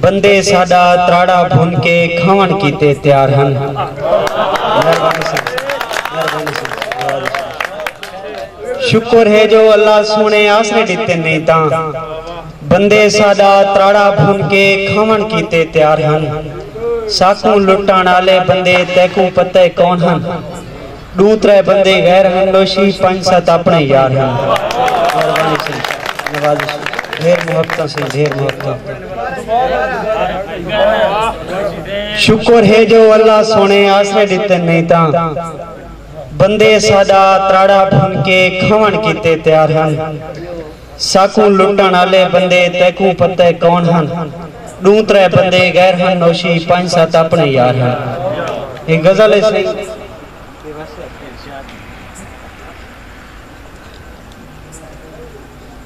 بندے ساڈا تراڑا بھن کے کھاون کیتے تیار ہن۔ ساکوں لٹن آلے بندے تیکوں پتہ کون ہن۔ ݙو ترے بندے غیر ہن نوشی پنج ست اپݨے یار ہن مہربانی سئیں نوازش ڈھیر محبتاں سئیں ڈھیر محبتاں شکر ہے جو اللہ سونے آسرے ڈتن نہیں تاں بندے ساڈا تراڑا بھن کے کھون کیتے تیار ہن ساکوں لٹݨ آلے بندے تیکوں پتہ اے کون ہن۔ ݙوں ترے بندے غیر ہن نوشی پنج ست اپݨے یار ہن۔ اے غزل اے سئیں۔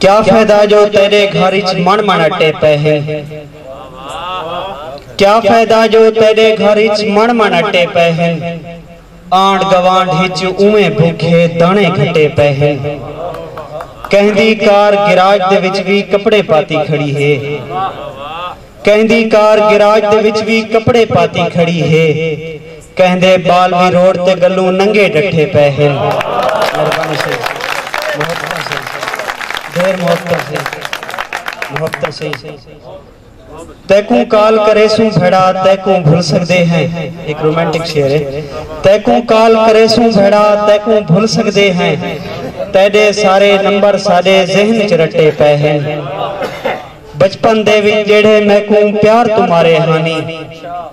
کیا فیدہ جو تیݙے گھر اچ مݨ مݨ اٹے پئے ہن۔ کیا فیدہ جو تیݙے گھر اچ مݨ مݨ اٹے پئے ہن۔ آنڈ گوانڈ اچ اوویں بھوکھے داݨے گھٹے پئے ہن۔ کیندی کار گیراج دے وچ وی کپڑے پاتی کھڑی ہے۔ کیندی کار گیراج دے وچ وی کپڑے پاتی کھڑی ہے۔ کیندے ٻال وی روڈ تے ڳلوں ننگے ݙٹھے پئے ہن۔ مہربانی سئیں محبتاں سئیں ڈھیر محبتاں سئیں محبتاں سئیں۔ تیکوں کال کریسوں بھیڑا تیکوں بھل سگدے ہیں ہک رومانٹک شعر ہے تیکوں کال کریسوں بھیڑا تیکوں بھل سگدے ہیں تیڈے سارے نمبر ساڈے ذہن وچ رٹے پئے ہن بچپن دے وچ جیڑھے میکوں پیار توں مارے ہانی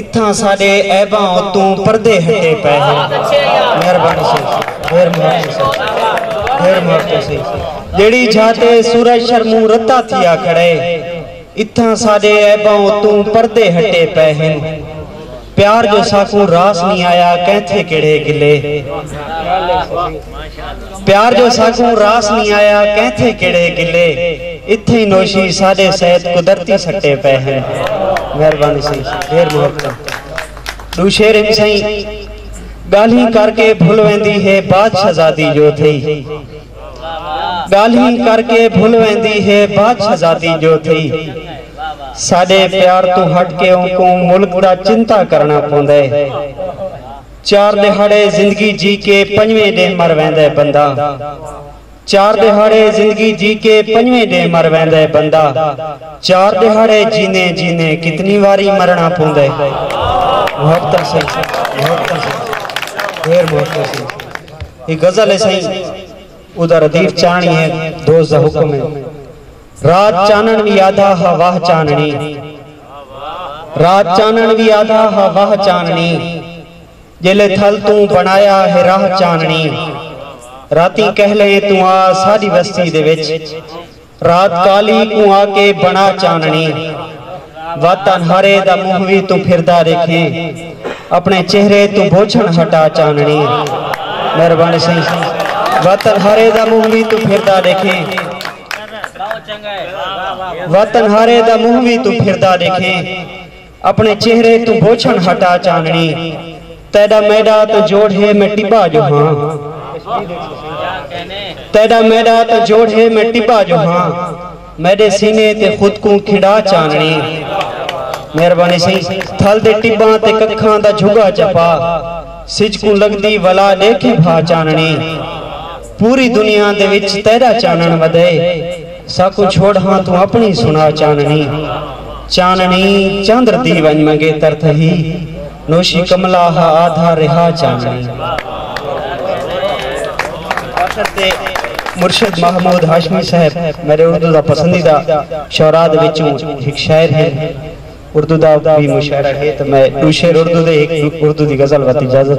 اتھاں اساڈے عیباں اتوں پردے ہٹے پئے ہن مہربانی سئیں ڈھیر محبتوں سئیں ڈھیر محبتوں سئیں جیڑھی جھاتے سورج شرموں رتا تھیا کھڑے اتھاں اساڈے عیباں اتوں پردے ہٹے پئے ہن پیار جو ساکوں راس نی آیا کینتھے کیڑھے گلے۔ پیار جو ساکوں راس نی آیا کینتھے کیڑھے گلے اتھیں نوشی ساڈے سید قدرتی سٹے پئے ہن مہربانی سائیں ڈھیر محبتاں ڈو شعر ہن سائیں گالھیں کر کے بھل ویندی ہے بادشہزادی جو تھئی گالھیں کر کے بھل ویندی ہے بادشہزادی جو تھئی ساڈے پیار تو ہٹ کے اونکوں ملک دا چنتا کرنا پوندے چار ݙیہاڑے زندگی جی کے پنجویں ݙینہہ مر ویندے بندہ چار ݙیہاڑے زندگی جی کے پنجویں ݙینہہ مر ویندے بندہ چار ݙیہاڑے جیندیں جیندیں کتنی واری مرݨا پوندے محبتاں سئیں محبتاں سئیں ڈھیر محبتاں سئیں اے غزل ہے سئیں اودا ردیف چاہݨی ہے دوست دا حکم ہے رات چانݨ وی آدھا ہا واہ چانݨی رات چانݨ وی آدھا ہا واہ چانݨی جیلے تھل توں بݨایا ہے راہ چانݨی راتیں کہلیں توں آ ساڈی وستی دے وچ رات کالی کوں آ کے بݨا چانݨی وت انہارے دا منہ وی توں پھردا ریکھیں اپنے چہرے توں بوچھن ہٹا چانݨی مہربانی سائیں وت انہارے دا منہ وی توں پھردا ریکھیں وطن ہارے دا منہ وی توں پھردا ݙیکھیں اپݨے چہرے توں بوچھݨ ہٹا چانݨی تیݙا میݙا تاں جوڑ ہے میں ٹٻا جو ہاں تیݙا میݙا تاں جوڑ ہے میں ٹٻا جو ہاں میݙے سینے تے خود کوں کھنڈا چانݨی مہربانی سی تھل دے ٹٻاں تے ککھاں دا جھگا چپا سج کوں لڳدی ولا ݙیکھیں بھا چانݨی پوری دنیا دے وچ تیڈا چانݨ ودئے ساکوں چھوڑ ہاں توں اپݨی سݨا چانݨی چانݨی چندر دی ونڄ منگیتر تھہی نوشی کملا ہا آدھا رہا چانݨی آخر تے مرشد محمود ہاشمی صاحب میڈے اردو دا پسندیدہ شعراء دے وچوں ہک شاعر ہن اردو دا وی مشاعرہ ہے تاں میں ݙو شعر اردو دے ہک اردو دی غزل وت اجازت